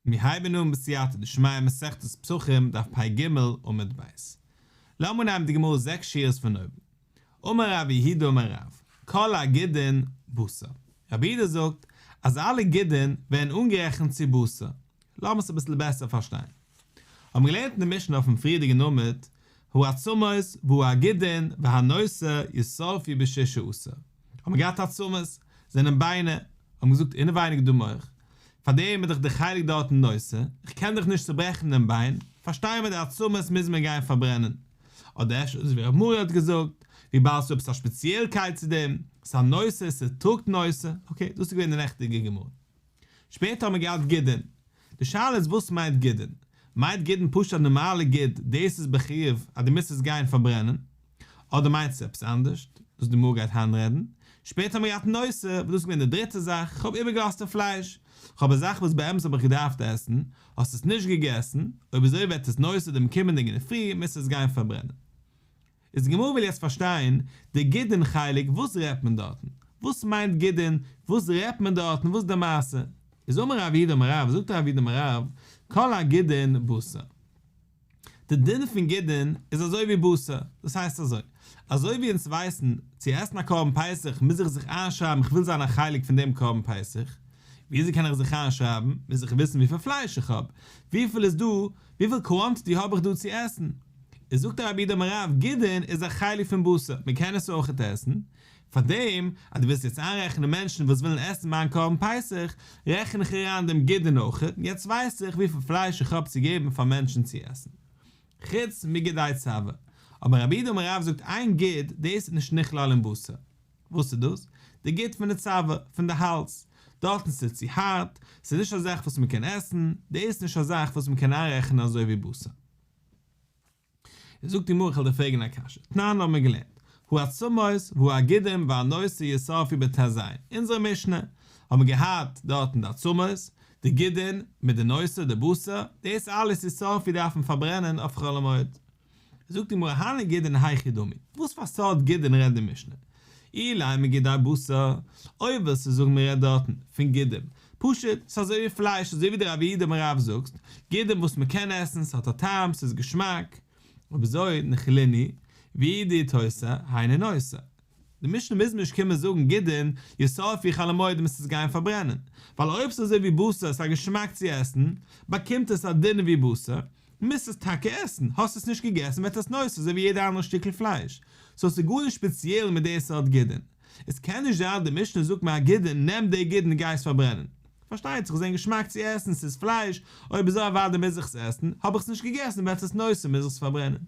מיר הייבן אן בסייעתא דשמיא מסכת פסחים דף פ ג עמוד ב'. לאמיר נעמען די גמרא זעקס שורות פון אויבן. אמר רבי יהודה אמר רב, כל הגידין בשר. רבי יהודה זאגט אז אלע גידין ווערן אנגערעכנט צו בשר. לאמיר עס אביסל בעסער פארשטיין. האבן מיר געלערנט אין די משנה אויפן פריערדיגן עמוד, הוא הצומות והוא הגידין והנושא יסופי בשישה עשר. האט מען געהאט עצמות, זענען ביינער, האבן געזאגט אינעווייניג דו מח, פאר דעם איז דאך די חלק דארטן נושא, איך קען דאך נישט צוברעכן דעם ביין, פארשטייען מיר די עצמות מוז מען גיין פארברענען. אדער אפשר אזוי ווי ר' מאיר האט געזאגט, וויבאלד ס'איז עפעס א ספעציעלקייט צו דעם, ס'איז א נושא, ס'טראגט נושא, אקעי, דאס איז געווען די נעכטיגע גמרא. שפעטער האט מען געהאט גידין. די שאלה איז וואס מיינט גידין? מיינט גידין פשוט א נארמאלע גיד, דאס איז בחיוב אז דו מוזט עס גיין פארברענען? אדער מיינט עס עפעס אנדערש וואס די גמרא גייט היינט רעדן? שפעטער האט מען געהאט נושא, וואס דאס איז געווען די דריטע זאך, כ'האב איבערגעלאזט די פלייש. כ'האב א זאך וואס באמת האב איך געדארפט עסן, האסט עס נישט געגעסן, אויב אזוי וועט עס נושא דעם קומענדיגן אינדערפרי מוזט עס גיין פארברענען. איז די גמרא וויל יעצט פארשטיין די גידין חלק וואס רעדט מען דארטן? וואס מיינט גידין? וואס רעדט מען דארטן? וואס די מעשה? איז אמר רב איד אמר רב זאגט רב איד אמר רב כל הגידין בשר די דין פון גידין איז אזוי ווי בשר דאס הייסט אזוי אזוי ווי אונז ווייסן צו עסן א קרבן פסח מוז איך זיך איינשרייבן איך וויל זיין א חלק פון דעם קרבן פסח וויאזוי קען איך זיך איינשרייבן מוז איך וויסן וויפיל פלייש איך האב וויפיל איז דא וויפיל קוואנטיטי האב איך דא צו עסן? איז זאגט די רבי די מרב גידין איז א חלק פון בשר, מען קען עס אויכעט עסן, פאר דעם אז דו ווילסט יעצט איינרעכענען מענטשן וואס ווילן עסן מיין קרבן פסח, רעכן איך אריין דעם גידין אויכעט, יעצט ווייס איך וויפיל פלייש איך האב צו געבן פאר מענטשן צו עסן. חוץ מגידי צבע. אבער רבי די מרב זאגט איין גיד, דאס איז נישט נכלל אין בשר. וואס איז דאס? די גוט פון די צוואר, פון די האלז. דארטן ס'איז צו הארט, ס'איז נישט א זאך וואס מען קען עסן, די איז נישט א זאך וואס מען קען איינרעכענען אזוי ווי בשר. איז זאגט די גמרא כ'על דיר פרעגען א קשיא, תנן האבן מיר געלערנט, הוא הצמות, הוא הגידים והנושא יסרפי ב ת ז, אונזערע משנה, האבן מיר געהאט דארטן די עצמות, די גידין, מיט די נושא, די בשר, דאס אלעס יסרפי דארף מען פארברענען אויף חול המועד. זאגט די גמרא הני גידין היכי דמי, וואס פאר סארט גידין רעדט די משנה? אילאי מגידי בשר, אויב ווילסטו זאגן מ'רעדט דארטן פון גידין, פשוט, ס'איז אזוי ווי פלייש, אזוי ווי די רבי אידם רב זאגט, גידין וואס מ'קען עסן, ס'האט א טעם, ס'איז געשמאק, ובזוי נכליני, והיא דאיתוסא, היינו נושא. די משנה מוז נישט קומען זאגן גידין ישרפי חל המועד און מ'ס'עס גיין פארברענען, ווייל אויב ס'איז אזוי ווי בשר, ס'איז א געשמאק צו עסן, באקומט עס א דין ווי בשר, מוזט עס טאקע עסן, האסט עס נישט געגעסן וועט עס נאוס אזוי ווי יעדע אנדערע שטיקל פלייש, סאו ס'איז גארנישט ספעציעל מיט די סארט גידין, עס קען נישט זיין אז די משנה זאגט מיין גידין נעם די גידין און גיי עס פארברענען, פארשטייט זיך עס זען געשמאק צו עסן, ס'איז פלייש, אויב אזוי אוודאי מוז איך עס עסן, האב איך עס נישט געגעסן וועט עס נאוס און מוז איך עס פארברענען,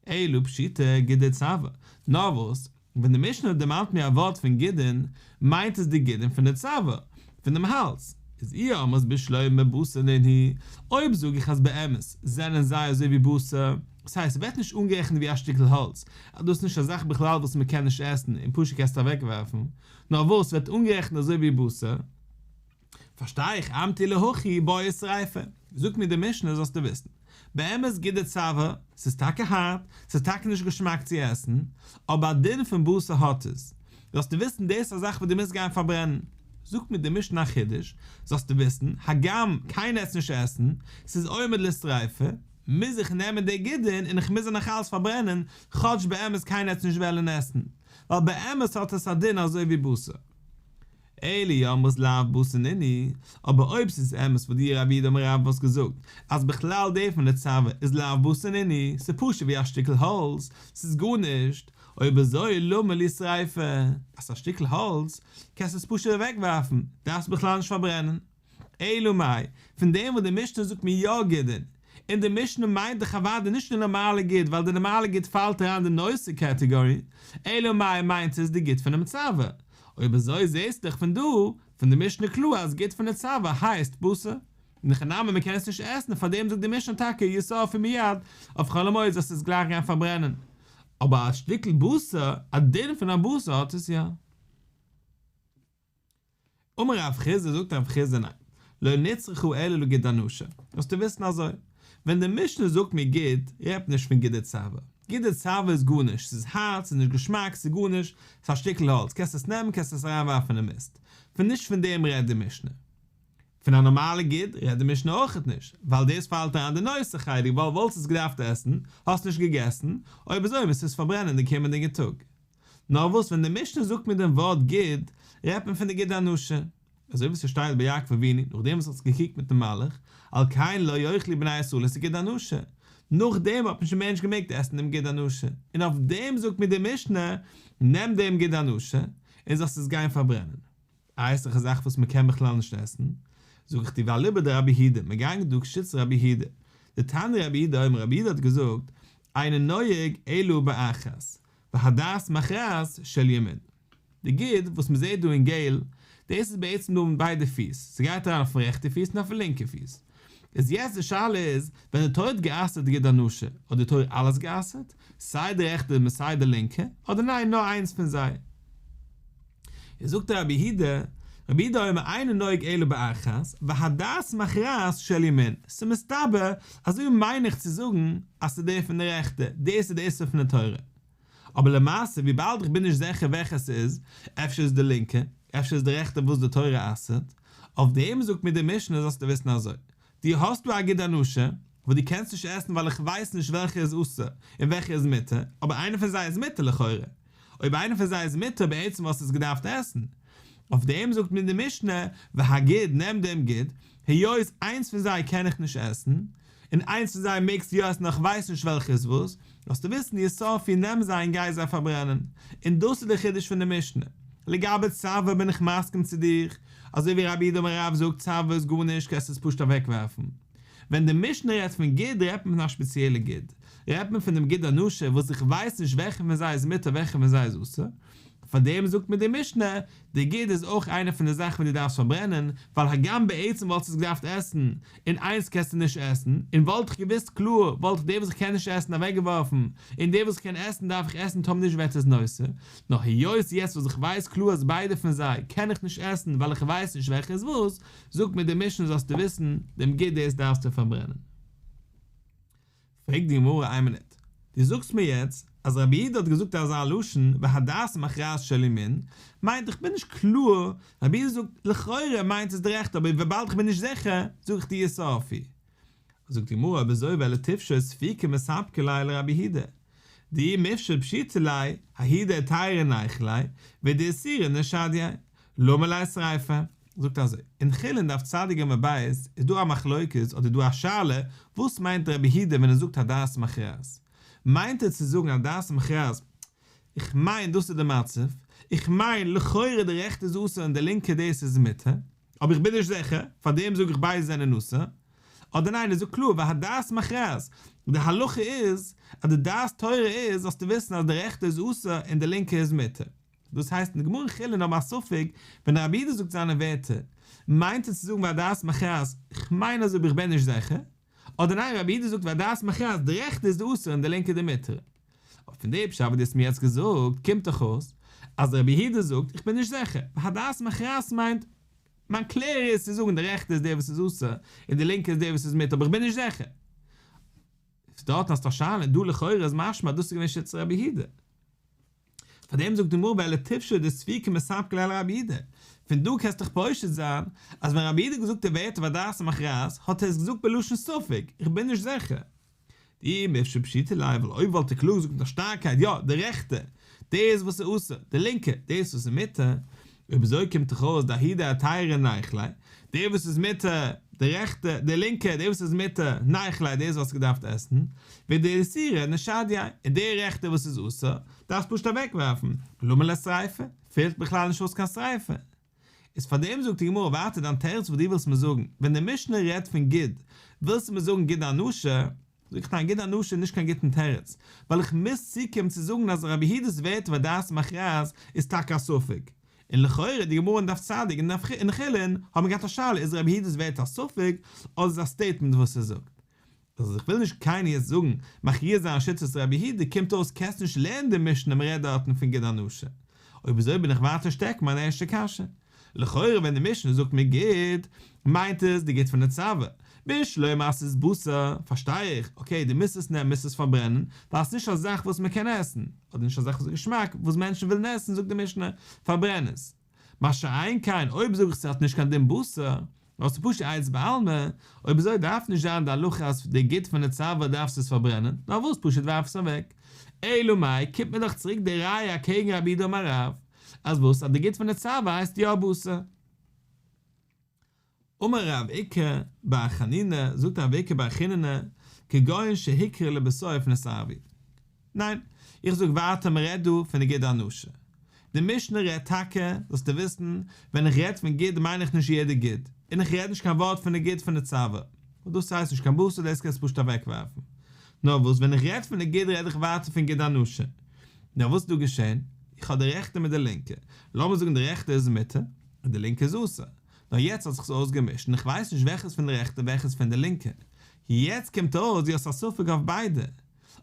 אלא פשיטא גידין צוואה, נאר וואס, ווען די משנה דערמאנט מיר א ווארט פון גידין, מיינט עס די גידין פון די צוואה, פון דעם האלז, איז אי אמרת בשלו' מבשר לן היא, אויב זאג איך אז באמת זענען זיי אזוי ווי בשר, דאס הייסט ס'ווערט נישט אנגערעכנט ווי א שטיקל האלז, אז דאס איז נישט א זאך בכלל וואס מען קען נישט עסן און פשוט קענסטו אוועקווארפן, נאר וואס, ס'ווערט אנגערעכנט אזוי ווי בשר, פארשטיי איך, אמתי להכי בויער שריפה, זאגט מיר די משנה זאלסטו וויסן, באמת גוט די צוואה, ס'איז טאקע הארט, ס'איז טאקע נישט געשמאק צו עסן, אבער א דין פון בשר האט עס, זאלסטו וויסן דאס איז א זאך וואס דו מוזט גיין פארברענען, זאגט מיר די משנה א חידוש, זאלסטו וויסן, הגם קיינער עטס נישט עסן, ס'איז עומד לשריפה, מוז איך נעמען די גידין און איך מוז זיי נאכאלס פארברענען, כאטש באמת קיינער עטס נישט וועלן עסן, ווייל באמת האט עס א דין אזוי ווי בשר. אלי יא מוז לאו בשר ניני, אבער אויב ס'איז אמת וואס די רבי דעם רב האסט געזאגט אז בכלל דער פון די צבא איז לאו בשר ניני, ס'איז פשוט ווי א שטיקל האלץ, ס'איז גארנישט, אויב אזוי למה לי שריפה, אז ס'איז א שטיקל האלץ קענסטו עס פשוט אוועקווארפן, דארפסט בכלל נישט פארברענען. אלא מאי, פון דעם וואס די משנה זאגט מיר יא גידין, און די משנה מיינט דאך אוודאי נישט די נארמאלע גיט, ווייל די נארמאלע גיט פאלט אריין די נושא קעטעגארי, אלא מאי מיינט עס די גיט פונעם צוואה. אויב אזוי זעהסטו דאך פון דא, פון די משנה קלאר אז גיט פון די צוואה הייסט בשר, און הכי נמי מען קען עס נישט עסן, פאר דעם זאגט די משנה טאקע ישרפו מיד, אויף חול המועד זאלסטו עס גלייך גיין פארברענען. אבער א שטיקל בשר, א דין פון א בשר האט עס יא. אמר רב חיסדא זאגט רב חיסדא ניין, לא נצרכו אלא לגיד אנשה, זאלסטו וויסן אזוי, ווען די משנה זאגט מיר גיד, רעדט מען נישט פון גיד די צאווע, גיד די צאווע איז גארנישט, ס'איז הארט, ס'איז נישט געשמאק, ס'איז גארנישט, ס'איז א שטיקל האלץ, קענסט עס נעמען, קענסט עס אריינווארפן אין מיסט, פון נישט פון דעם רעדט די משנה. פון א נארמאלע גיד רעדט די משנה אויכעט נישט, ווייל דאס פאלט אריין די נושא חלק ווייל וואלסט עס געדארפט עסן, האסט נישט געגעסן, אויב אזוי מוזט עס פארברענען די קומענדיגע טאג. נאר וואס ווען די משנה זאגט מיר דעם ווארט גיד, רעדט מען פון די גיד האנשה, אזוי ווי ס'שטייט ביי יעקב אבינו נאכדעם וואס ער האט זיך געקריגט מיטן מלאך, על כן לא יאכלו בני ישראל את הגיד האנשה, נאכדעם האט נישט די מענטש געמעגט עסן דעם גיד האנשה, און אויף דעם זאגט מיר די משנה, נעם דעם גיד האנשה, און זאלסט עס גיין פארברענען. א העסליכע זאך וואס מען קען בכלל נישט עסן, זאג איך דיר ואליבא דרבי הידא, מען גייט דא קשית רבי הידא, דתני רבי הידא אומר רבי הידא האט געזאגט, אינו נוהג אלא באחת, והדרת מכרז של ימין. די גיד וואס מען זעהט דא אין געל, דאס איז בעצם דא מיט ביידע פיס, ס'גייט אריין אויפן רעכטע פיס און אויפן לינקע פיס. איז יעצט די שאלה איז, ווען די תורה האט גע'אסר'ט גיד אנושה, האט די תורה אלעס גע'אסר'ט, סיי די רעכטע און סיי די לינקע, אדער ניין נאר איינס פון זיי? איז זאגט דער רבי הי ד, רבי הי ד אומר אינו נוהג אלא באחת, והדעת מכרעת של ימין, ס'מסתבר אז אויב מיין איך צו זאגן אז ס'איז דער פון די רעכטע, דאס איז די איסור פון די תורה. אבער למעשה וויבאלד איך בין נישט זיכער וועלכע ס'איז, אפשר איז די לינקע, אפשר איז די רעכטע וואס די תורה אסר'ט, אויף דעם זאגט מיר די משנה זאלסטו וויסן אזוי, דו האסט דא א גוט אנושא, וואס דו קענסט נישט עסן ווייל איך ווייס נישט וועלכע איז אסור און וועלכע איז מותר, אבער איינע פון זיי איז מותר לכאורה. אויב איינע פון זיי איז מותר בעצם וואלסטעס געדארפט עסן. אויף דעם זאגט מיר די משנה, והגיד נעם דעם גיד, היות איינס פון זיי קען איך נישט עסן, און איינס פון זיי מעגסטו יא עסן נאר איך ווייס נישט וועלכע איז וואס, זאלסטו וויסן די יסוד פון נעם זיי און גיי זיי פארברענען, און דאס איז די חידוש פון די משנה. לגבי צבא בין איך מסכים צו דיר, אזוי ווי רבי דוב הרב זאגט צבא איז גארנישט קענסט עס פשוט אוועק ווערפן. ווען די משנה רעדט פון גיד רעדט מען פון א שפעציעלע גיד, רעדט מען פון דעם גיד הנשר וואס איך ווייס נישט וועלכע פון זיי איז מותר וועלכע פון זיי איז אסור, פאר דעם זאגט מיר די משנה די גיד איז אויך איינע פון די זאכן וואס דו דארפסט פארברענען, ווייל הגם בעצם וואלטסט עס געדארפט עסן, און איינס קענסטו נישט עסן, און וואלט איך געוואוסט קלאר וואלט איך די וואס איך קען נישט עסן אוועקגעווארפן, און די וואס איך קען עסן דארף איך עסן טאמער נישט וועט עס נושא, נאר היות יעצט וואס איך ווייס קלאר אז ביידע פון זיי קען איך נישט עסן ווייל איך ווייס נישט וועלכע איז וואס, זאגט מיר די משנה זאלסטו וויסן דעם גיד דאס דארפסטו פארברענען. פרעגט די גמרא איין מינוט, דו זאגסט מיר יעצט אז רבי יהודה האט געזאגט אזא לשון והדעת מכרעת של ימין, מיינט איך בין נישט קלאר, רבי יהודה זאגט לכאורה מיינט עס די רעכטע אבער וויבאלד איך בין נישט זיכער זאג איך דיר סארפי. זאגט די גמרא אויב אזוי וועל איך תפשוט ספיקא מספקא ליה לרבי יהודה, דאי מפשט פשיטא ליה, הידע עתירא נייחא ליה, ודאיסירא נשדיה, לאמיר אויסרייפן, זאגט אזוי, אין חולין דף צד ג עמוד ב' איז דא א מחלוקת אדער איז דא א שאלה, וואס מיינט רבי הידע ווען ער זאגט הדעת מכרעת? מיינט ער צו זאגן הדעת מכרעת איך מיין דאס איז די מצב, איך מיין לכאורה די רעכטע איז אסור און די לינקע דאס איז מותר, אבער איך בין נישט זיכער, פאר דעם זאג איך ביידע זענען אסור, אדער ניין ער זאגט קלאר והדעת מכרעת, די הלכה איז אז די דעת תורה איז זאלסטו וויסן אז די רעכטע איז אסור און די לינקע איז מותר, דאס הייסט אין די גמרא אין חולין האבן א ספק, ווען די רבי דא זאגט זיינע ווערטער, מיינט ער צו זאגן והדעת מכרעת, כ'מיין אזוי אבער כ'בין נישט זעכער, אדער ניין רבי דא זאגט והדעת מכרעת די רעכטע איז די אסורה און די לינקע די מותרה. אבער פון די פשט וואס דו האסט מיר יעצט געזאגט קומט דאך אויס אז די רבי דא זאגט איך בין נישט זעכער, והדעת מכרעת מיינט מיין קלער איז צו זאגן די רעכטע איז די וואס איז אסור און די לינקע איז די וואס איז מותר אבער איך בין נישט זעכער. דארטן האסטו א שאלה און דא לכאורה איז משמע אז דאס איז געווען שיטת רבי הידא. פאר דעם זאגט די גמרא ביי אלע טיפשו דאס צבי כמספק לאל רבי איד, פון דא קענסטו דיך פושט זיין אז ווען רבי איד האט געזאגט די ווערטער והדרת המכרז האט ער עס געזאגט בלשון ספק, איך בין נישט זעכער. די מפשט פשיטא לייען ווייל אויב וואלט ער קלאר געזאגט מיט א שטארקייט יא די רעכטע דאס וואס איז אסור, די לינקע דאס וואס איז מותר, אויב אזוי קומט דאך אויס די הידע א טייערע נייכלעי, דער וואס איז מיט א, די רעכטע, די לינקע, דער וואס איז מיט א, נייכלעי, דער איז וואלסטו געדארפט עסן, וועגן די איסורא נשדיא, און דער רעכטע וואס איז אסור, דארפסט פשוט אוועק ווארפן, למה לשריפה, פעלט בכלל נישט אויס קיין שריפה. איז פאר דעם זאגט די גמרא ווייטער דיין תירוץ וואס דו ווילסט מיר זאגן, ווען די משנה רעדט פון גיד, ווילסטו מיר זאגן גיד הנשה, זאג איך דיין גוט אנוש איז נישט קיין גוטן תירוץ, ווייל איך מוז צוקומען צו זאגן אז רבי יהודה'ס ווערטער וואס דעת מכריעת איז טאקע א ספק, און לכאורה די גמרא אין דף צדיק און אין חולין האבן געהאט א שאלה איז רבי יהודה'ס ווערטער א ספק אדער איז א סטעיטמענט וואס ער זאגט. אז איך וויל נישט קיינער יעצט זאגן מכריע זיין שיטת רבי יהודה קומט אויס קענסט נישט לערנען די משנה מראה דארטן פון גוט אנוש אויב אזוי בין איך ווייטער שטעק מיין ערשטע קשיא. לכאורה ווען די משנה זאגט מיר גיט, מיינט עס די גיט פון די צוואה, ביש לוי מסית בשר, פארשטיי איך, אקעי די מוזט עס נעמען מוזט עס פארברענען, ווייל עס איז נישט א זאך וואס מען קען עסן, אדער נישט א זאך וואס איז געשמאק, וואס מענטשן ווילן עסן זאגט די משנה, פארברען עס. מה שאין כן אויב זאג איך ס'האט נישט קיין דין בשר, האסטו פשוט א עצה בעלמא, אויב אזוי דארף נישט זיין די הלכה אז פאר די גוט פון די צוואה דארפסטו עס פארברענען, נאר וואס פשוט ווארף עס אוועק. אלא מאי, קומט מיר דאך צוריק די ראיה אקעגן רבי יהודה אמר רב, אז וואס אז די גוט פון די צוואה הייסט יא בשר. אמר רב עיקר בר חנינא, זאגט רב עיקר בר חנינא, כגון שהקריב לבשר אויפן עס ערבי. ניין, איך זאג ווייטער מען רעדט דא פון די ג ד אנושה. די משנה רעדט טאקע, זאלסטו וויסן, ווען איך רעד פון ג ד מיין איך נישט יעדע ג ד, און איך רעד נישט קיין ווארט פון די ג ד פון די צוואה, ווייל דאס הייסט נישט קיין בשר דאס קענסטו פשוט אוועקווארפן. נאר וואס ווען איך רעד פון די ג ד רעד איך ווייטער פון ג ד אנושה. נאר וואס איז דא געשען? איך האב די רעכטע מיט די לינקע, לאמיר זאגן די רעכטע איז מיתה, און די לינקע איז אסור. נאר יעצט האט זיך עס אויסגעמישט און איך ווייס נישט וועלכע איז פון די רעכטע און וועלכע איז פון די לינקע. יעצט קומט אויס דו האסט א ספק אויף ביידע.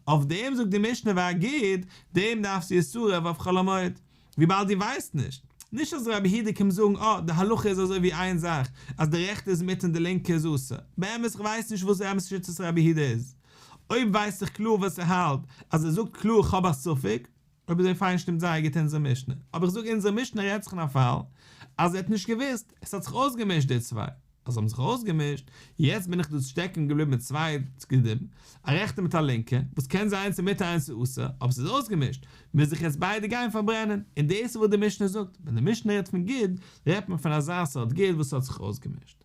אויף דעם זאגט די משנה והגיד, דעם דארפסטו איסורא ואף חול המועד, וויבאלד דו ווייסט נישט. נישט אז רבי הירדע קומט זאגן אה, די הלכה איז אזוי ווי איין זאך, אז די רעכטע איז מותר און די לינקע איז אסור. באמת איך ווייס נישט וואס באמת שיטת רבי הירדע איז. אויב ווייס איך קלאר וואס ער האלט, אז ער זאגט קלאר כ'האב א ספק, אויב אזוי פיין שטימט זייער גוט אונזער משנה, אבער איך זאג אונזער משנה רעדט זיך אין א פאל אז ער האט נישט געוואוסט, עס האט זיך אויסגעמישט די צוויי, אז האבן זיך אויסגעמישט, יעצט בין איך דא שטעקן געבליבן מיט צוויי צדדים, א רעכטע מיט א לינקע, וואס קען זיין איינס איז מותר איינס איז אסור, אבער ס'איז אויסגעמישט, מוז איך עס ביידע גיין פארברענען, און דאס איז וואס די משנה זאגט, ווען די משנה רעדט פון ג-ט, רעדט מען פון אזא סארט ג-ט וואס האט זיך אויסגעמישט.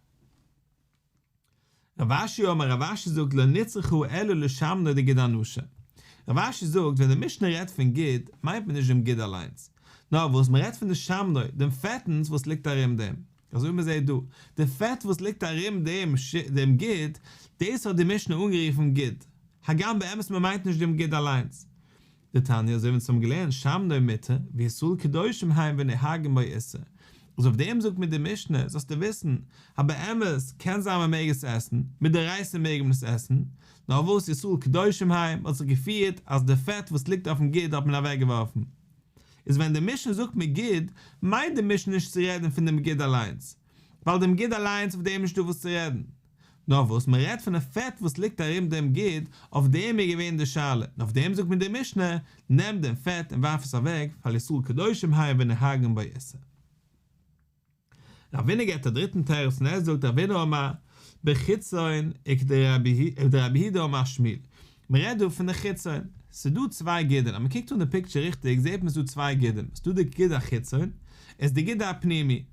רב אשי אומר רב אשי זאגט לא נצרכו אלא לשם נאר די ג ד אנושה. רב אשי זאגט ווען די משנה רעדט פון ג ד מיינט מען נישט דעם ג ד אליינס. נאר וואס מען רעדט פון די שמנוי, דעם פעטנס וואס ליגט ארום דעם. אזוי ווי מען זעהט דא. די פעט וואס ליגט ארום דעם דעם ג ד, דאס האט די משנה אנגערופן ג ד. הגם באמת מען מיינט נישט דעם ג ד אליינס. די תניא, אזוי ווי אונז האבן געלערנט, שם נוי מיתה, וישראל קדושים היים ונהגים בו איסור, אז אויף דעם זאגט מיר די משנה, זאלסטו וויסן, אז באמת, קען זיין מען מעג עס עסן, מדאורייסא מעג מען עס עסן, נאר וואס ישראל קדושים היים האט זיך געפירט אז די פעט וואס ליגט אויפן גיד האט מען אוועקגעווארפן. איז ווען די משנה זאגט מגיד, מיינט די משנה נישט צו רעדן פון דעם גיד אליינס, ווייל דעם גיד אליינס אויף דעם איז נישטא וואס צו רעדן, נאר וואס מען רעדט פון די פעט וואס ליגט ארום דעם גיד, אויף דעם איז געווען די שאלה, און אויף דעם זאגט מיר די משנה, נעם דעם פעט און ווארף עס אוועק, ווייל ישראל קדושים היו ונהגים בו איסור. רבינא געבט א דריטן תירוץ און ער זאגט רבינא אמר בחיצון וכדרבי ד אמר שמיל, מען רעדט דא פון די חיצון, ס'איז דא צוויי גידין, אז מען קוקט אן די פיקטשער ריכטיג זעט מען ס'איז דא צוויי גידין, ס'איז דא די גיד החיצון, און ס'איז די גיד הפנימי.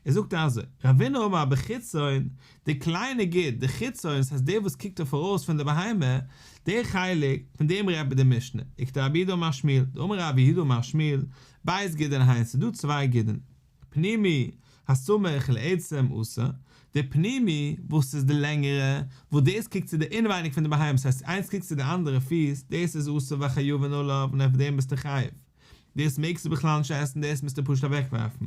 ער זאגט אזוי, רבינו אמר בחיצון, די קליינע גוט, די חיצון, ס'הייסט דער וואס קוקט אויף פאראויס פון די בהמה, דער חלק, פון דעם רעדט מען די משנה, איקטע רבי יהודה אמר שמואל, דאמר רבי יהודה אמר שמואל, בית גידין היינס ס'איז דא צוויי גידין, פנימי, הסמוך לעצם עושה, די פנימי, וואס איז די לענגערע, וואס דאס קוקט צו די אינעווייניג פון די בהמה, ס'הייסט איינס קוקט צו די אנדערע פיס, דאס איז עושה והחיובין עליו און אויף דעם ביסטו חייב, דאס מעגסטו בכלל נישט עסן דאס מוזטו פשוט אוועקווארפן,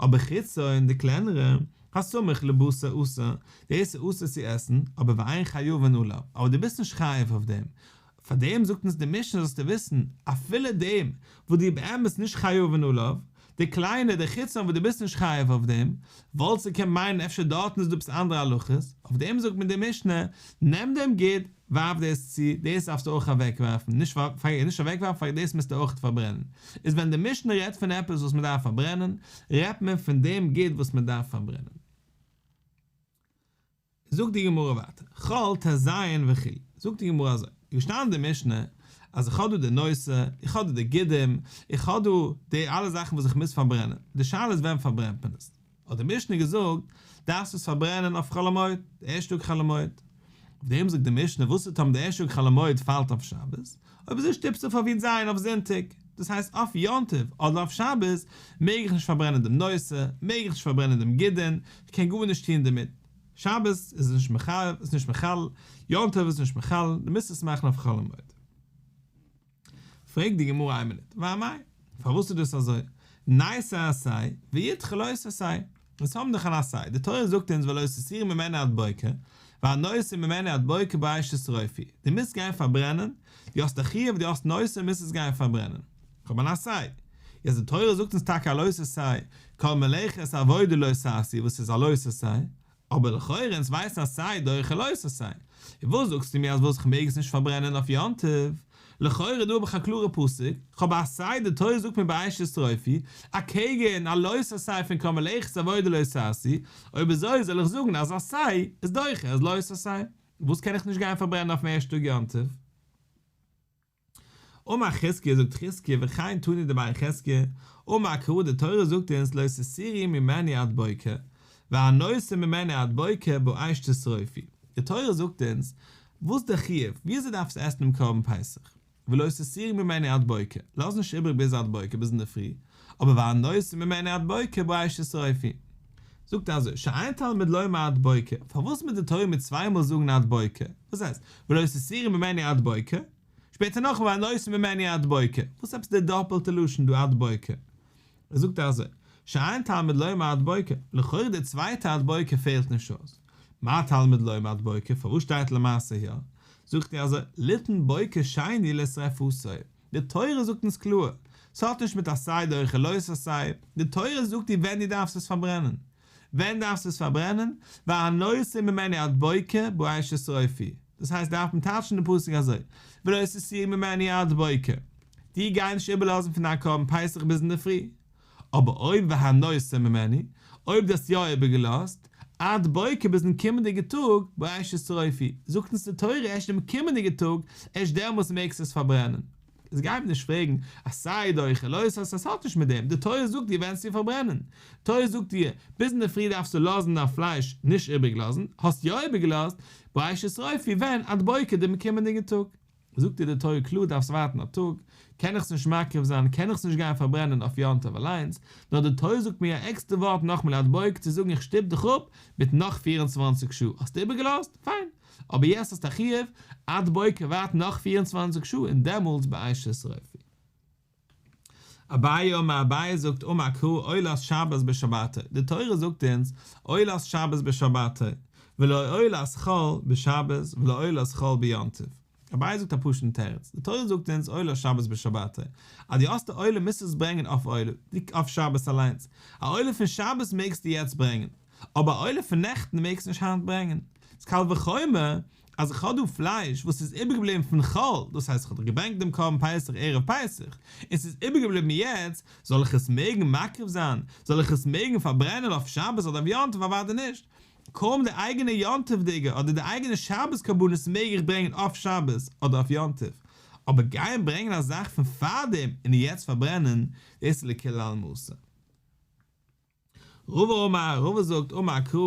אבער חצה און די קלענערע, הסמוך לבשר אסור, דאס איז אסור צו עסן, אבער ועיין חיובן עליו, אבער דו ביסט נישט חייב אויף דעם, פאר דעם זאגט אונז די משנה זאלסטו וויסן, אפילו דעם וואס דו באמת נישט חיובן עליו, די קליינע, די חצה וואס דו ביסט נישט חייב אויף דעם, וואלטסטו קענען מיינען אפשר דארטן איז דא עפעס אנדערע הלכות, אויף דעם זאגט מיר די משנה, נעם דעם ג-ט, ווארף דאס צו, דאס דארפסטו אויך אוועקווארפן, נישט פארגיס נישט אוועקווארפן, פאר דאס מוזטו אויך פארברענען. איז ווען די משנה רעדט פון עפעס וואס מען דארף פארברענען, רעדט מען פון דעם גוט וואס מען דארף פארברענען. זאגט די גמרא ווייטער, כל ט ז וכו', זאגט די גמרא אזוי, איז געשטאנען אין די משנה, אז איך האב דא די נושא, איך האב דא די גידים, איך האב דא די אלע זאכן וואס איך מוז פארברענען, די שאלה איז ווען פארברענט מען עס. האט די משנה געזאגט, דארפסט עס פארברענען אויף חול המועד, די ערשטע טאג חול המועד. אויף דעם זאגט די משנה, וואס איז טעם די ערשטע טאג חול המועד פאלט אויף שבת, אויב אזוי שטיפסט דו פאר ווי זיין אויף זונטאג, דאס הייסט אויף יום טוב אדער אויף שבת מעג איך נישט פארברענען דעם נושא, מעג איך נישט פארברענען דעם גידין, איך קען גארנישט טון דערמיט, שבת איז נישט מחייב, איז נישט מחלל, יום טוב איז נישט מחלל, דו מוזט עס מאכן אויף חול המועד. פרעגט די גמרא איין מינוט, וואי מאי? פארוואס איז דאס אזוי? נעשה עשה, ויתכן לא עשה עשה, אונז האבן דאך אן עשה, די תורה זאגט אונז ולא תסיר ממנה עד בוקר, והנושא ממנה עד בוקר באש תשרופי, די מוזט גיין פארברענען, די האסט א חיוב, די האסט נושא, מוזט עס גיין פארברענען. איך האב אן עשה. יעצט די תורה זאגט אונז טאקע הלא תעשה, כל מלאכת עבודה לא תעשי, וואס איז הלא תעשה? אבער לכאורה אונז ווייסן אז סיי דורך חלות און סיי און וואס זאגסטו מיר אז וואס איך מעג עס נישט פארברענען אויף יום טוב? לכאורה דא האב איך א קלארע פסק, כ'האב בה א סיי די תורה זאגט מיר בראשית אסתרופי אקעגן א לא תעשה פון כרם אלעכס עבודה לא תעשי, אויב אזוי זאל איך זאגן אז א סיי איז דוחה אז לא תעשה, וואס קען איך נישט גיין פארברענען אויפן ערשטן טאג יום טוב? אמר חזקיה זאגט חזקיה וכאין תני דבאי חזקיה, אמר הקרא די תורה זאגט אונז לא תסירי ממני עד בוקר, והנוסר ממני עד בוקר באש תשרופי, די תורה זאגט אונז וואס די חיוב, וויאזוי דארף עס עסן דעם קרבן פסח, ולא תסירי ממני עד בוקר, לאז נישט איבריג ביז עד בוקר ביז אינדערפרי, אבער והנוסע ממנה עד בוקר בראש ישרפי זאגט אזוי שאין תלמוד לומר עד בוקר, פארוואס מוז די תורה מיר צוויי מאל זאגן עד בוקר? וואס הייסט ולא תסירי ממני עד בוקר? שפעטער נאכדעם והנוסע ממני עד בוקר, וואס עפעס די דאפעלטע לשון דא עד בוקר? ער זאגט אזוי שאין תלמוד לומר עד בוקר, לכאורה די צווייטע עד בוקר פעלט נישט אויס, מה תלמוד לומר עד בוקר פארוואס שטייט למעשה יא? זאגט ער אזוי ליתן בוקר שני לשרפתו, די תורה זאגט אונז קלאר, ס'האט נישט מיט עשה דרכי לא עשה, די תורה זאגט דיר ווען דו דארפסט עס פארברענען. ווען דארפסטו עס פארברענען? והנושא ממני עד בוקר בואי ששרופי. דאס הייסט דארף מען טייטשן די פסוק אזוי, ולא תסירי ממני עד בוקר, דיר גיי נישט איבערלאזן פון דיין קרבן פסח ביז אינדערפרי, אבער אויב והא נושא ממני, אויב דו האסט יא איבערגעלאזט, עד בוקר ביזן קומענדיגע טאג, בראשית שרפי, זאגט אונז די תורה ערשט דעם קומענדיגע טאג, ערשט דעמאלטס מעגסטו עס פארברענען. איז גיי מיר נישט פרעגן, אז סארי דו אויך עלויס האסט, עס האט נישט מיט דעם, די תורה זאגט דיר ווען צו פארברענען, תורה זאגט דיר, ביז אינדערפרי דארפסטו לאזן דיין פלייש, נישט איבערגלאזן, האסט יא איבערגעלאזט, בראשית שרפי, ווען, עד בוקר דעם קומענדיגן טאג. זאגט איר די תורה קלאר דארפסט ווארטן א טאג, קען איך עס נישט מקריב זיין, קען איך עס נישט גיין פארברענען אויף יום טוב אליינס, נאר די תורה זאגט מיר א עקסטער ווארט נאך מלאת בויק צו זאגן איך שטופ דיך אפ מיט נאך פֿיר און צוואַנציק שעה, האסט איבערגעלאזט? פיין, אבער יעצט האסט א חיוב עד בוקר ווארט נאך פֿיר און צוואַנציק שעה און דעמאלטס באישה שרויפי. אביי אומר אביי זאגט אמר קרא עולת שבת בשבתו, די תורה זאגט אונז עולת שבת בשבתו, ולא עולת חול בשבת ולא עולת חול ביום טוב. אביי זאגט א פשוט'ן תירוץ, די תורה זאגט אונז עולת שבת בשבתו, אז דו האסט א עולה מוזטו עס ברענגען אויף עולה, אויף שבת אליינס, א עולה פון שבת מעגסטו יעצט ברענגען, אבער א עולה פון נעכטן מעגסטו נישט היינט ברענגען. אז קל וחומר אז איך האב דא פלייש וואס איז איבערגעבליבן פון חול, דאס הייסט איך האב דאך געברענגט דעם קרבן פסח ערב פסח, און ס'איז איבערגעבליבן יעצט, זאל איך עס מעגן מקריב זיין? זאל איך עס מעגן פארברענען אויף שבת אדער אויף יום טוב? אוודאי נישט! קוים די אייגענע יום טוב'דיגע אדער די אייגענע שבת קרבנות מעג איך ברענגען אויף שבת אדער אויף יום טוב, אבער גיין ברענגען א זאך פון פארדעם און יעצט פארברענען, דאס איז לקל על משה. רבא אמר, רבא זאגט, אמר הקרא,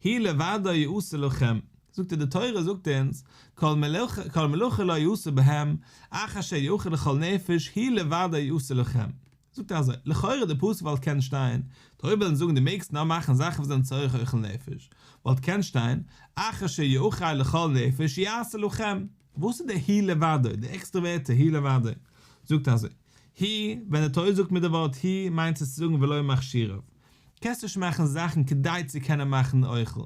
הי' לבדו יעשה לכם, זאגט ער די תורה זאגט אונז, כל מלאכה לא יעשה בהם, אך אשר יאכל לכל נפש, הי' לבדו יעשה לכם. זאגט ער אזוי, לכאורה די פסוק וואלט קענען שטיין, די רבי וויל אונז זאגן די מעגסט נאר מאכן זאכן וואס זענען צריך אוכל נפש, וואלט געקענט שטיין, אך אשר יאכל לכל נפש יעשה לכם. וואס איז די הי' לבדו, די עקסטראווערטע הי' לבדו? זאגט אזוי, הי', ווען די תורה זאגט מיר די ווארט הי' מיינט עס צו זאגן ולא מכשיריו, קענסט נישט מאכן זאכן כדי צו קענען מאכן אוכל,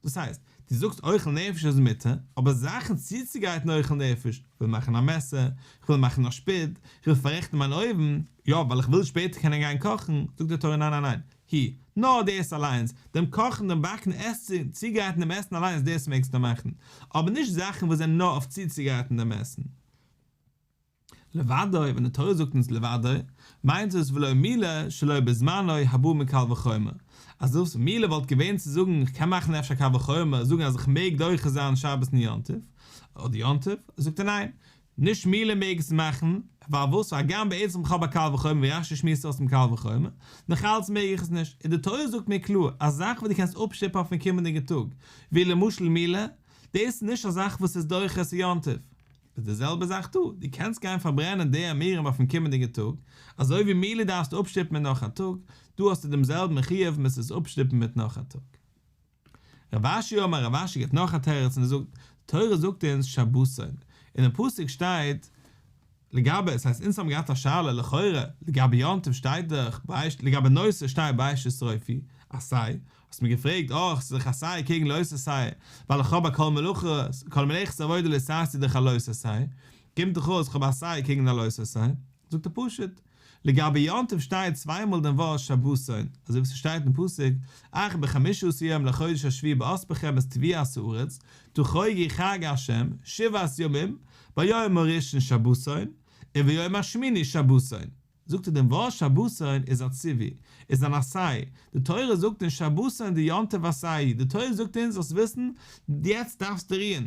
דאס הייסט, דו זאגסט אוכל נפש איז מותר, אבער זאכן צוצוגרייטן אוכל נפש, כ'וויל מאכן א מעסער, כ'וויל מאכן א שפיד, כ'וויל פאררעכטן מיין אויוון, יא, ווייל איך וויל שפעטער קענען גיין קאכן, זאגט די תורה ניין ניין ניין, הי, נאר דאס אליינס, דעם קאכן, דעם באקן, עס צו, צוגרייטן דעם עסן אליינס, דאס מעגסטו מאכן, אבער נישט זאכן וואס זענען נאר אויף צוצוגרייטן דעם עסן. לבדו, ווען די תורה זאגט אונז לבדו, מיינט דאס ולא מילא שלא בזמנו הבא מקל וחומר, אז דאס מילא וואלט געווען צו זאגן איך קען מאכן אפשר קל וחומר זאגן אז איך מעג דוחה זיין שבת און יום טוב, אדער יום טוב, זאגט ער ניין, נישט מילא מעג עס מאכן, ווייל וואס הגם בעצם כ'האב א קל וחומר ווי רש י שמועסט אויס דעם קל וחומר, נאך אלץ מעג איך עס נישט, און די תורה זאגט מיר קלאר אז זאכן וואס דו קענסט אפשטופן אויפן קומענדיגן טאג, ווי למשל מילא, דאס איז נישט א זאך וואס איז דוחה עשה יום טוב. איז די זעלבע זאך דא, דו קענסט גיין פארברענען די עמירם אויפן קומענדיגן טאג, אזוי ווי מילא דארפסטו אפשטופן מיט נאך א טאג, דא האסטו דעם זעלבן חיוב מוזט עס אפשטופן מיט נאך א טאג. רב אשי אמר רב אשי געבט נאך א תירוץ און ער זאגט, די תורה זאגט אונז שבתון, אינעם פסוק שטייט לגבי, ס'הייסט אונז האבן געהאט א שאלה לכאורה, לגבי יום טוב שטייט דאך בעש ט, לגבי נושא שטייט בעש ט שרפי עשי, האסט מיר געפרעגט אויך ס'איז דאך עשי קעגן לא עשי, ווייל איך האב א כל מלאכות, כל מלאכת עבודה לעשי איז דאך א לא עשי, קומט דאך אויס כ'האב עשי קעגן א לא עשי, זאגט ער פשוט, לגבי יום טוב שטייט צוויי מאל דעם ווארט שבתון, אזוי ווי ס'שטייט אין פסוק, אך בחמישו עשר יום לחודש השביעי בעת פחמת טביעת הארץ, תחוגי חג ה' שבעת ימים, ביום הראשון שבתון, און ביום השמיני שבתון. זאגט ער דעם ווארט שבתון איז א ציווי, איז אן עשה, די תורה זאגט אין שבתון די יום טוב עשאי, די תורה זאגט אונז זאלסט וויסן, יעצט דארפסטו רוען,